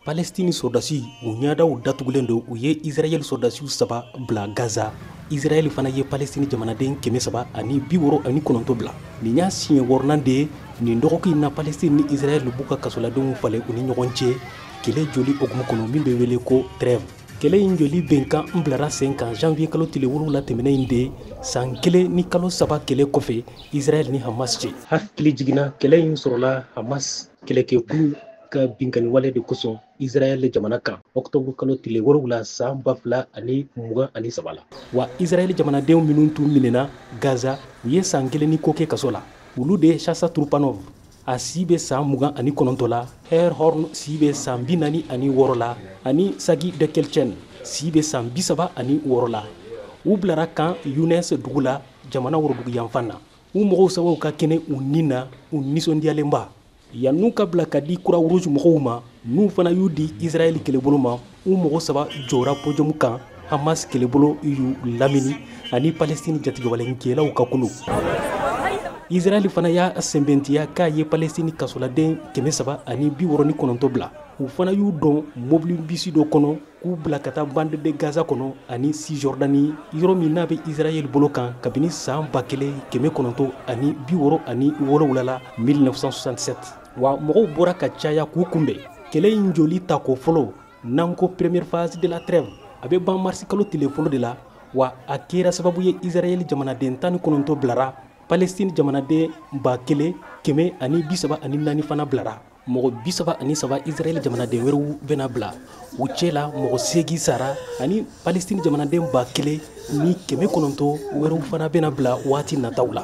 palestini sɔrɔdasi u ɲadaw datugulen don u ye israɛl sɔrɔdasiw saba bila gaza israɛl fana ye palestini jamanaden kɛmɛ saba ani bi wɔɔrɔ ani kɔnɔntɔ bila nin y'a siɲɛ wɔɔrɔnan de ye nin dɔgɔkun na palestini ni israɛl b'u ka kasoladenw falen u ni ɲɔgɔn cɛ kɛlɛ jɔli hukumu kɔnɔ min bɛ wele ko trêve kɛlɛ in jɔli bɛnkan in bilara sen kan janvier kalo tile wolonwula tɛmɛnen in de san kelen ni kalo saba kɛlɛ kɔfɛ israɛl ni hamas cɛ hakili jiginna kɛlɛ in sɔrɔla hamas kɛlɛkɛkulu ka binkani wale de kosɔn israɛl jamana kan ɔktɔburu kalo tile wolonwula saan ba fila ani mugan ani saba la wa israɛl jamanadenw minnu tun minɛna gaza u ye saan kelen ni ko kɛ kaso la olu de ye sasha trupanov a si bɛ saan mugan ani kɔnɔntɔ la yair horn si bɛ saan bi naani ani wɔɔrɔ la ani sagi dekel chen si bɛ saan bi saba ani wɔɔrɔ la u bilara khan younes dugu la jamana worodugu yanfan na u mɔgɔ saba u ka kɛnɛ u ni na u nisɔndiyalenba yann'u ka bila ka di croix rouge mɔgɔw ma n'u fana y'u di israɛl kɛlɛbolo ma u mɔgɔ saba jɔra podium kan hamas kɛlɛbolo y'u lamini ani palestine jatigɛwalenkɛlaw ka kulu israɛl fana y'a sɛnbɛntiya k'a ye palestine kasoladen kɛmɛ saba ani bi wɔɔrɔ ni kɔnɔntɔ bila u fana y'u don mɔbili bisi dɔ kɔnɔ k'u bila ka taa bande de gaza kɔnɔ ani cisjordanie yɔrɔ min n'a bɛ israɛl bolo kan kabini saan ba kelen kɛmɛ kɔnɔntɔ ani bi wɔɔrɔ ani wolonwula la 1967 wa mɔgɔw bɔra ka caya k'u kunbɛn kɛlɛ in jɔli tako fɔlɔ n'an ko première phase de la trêve a bɛ ban marisi kalo tile fɔlɔ de la wa a kɛra sababu ye israɛl jamanaden tan ni kɔnɔntɔ bilara palestine jamanaden ba kelen kɛmɛ ani bi saba ani naani fana bilara mɔgɔ bi saba ani saba israɛl jamanaden wɛrɛw bɛna bila u cɛ la mɔgɔ seegin sara ani palestine jamanaden ba kelen ni kɛmɛ kɔnɔntɔ wɛrɛw fana bɛna bila waati nataw la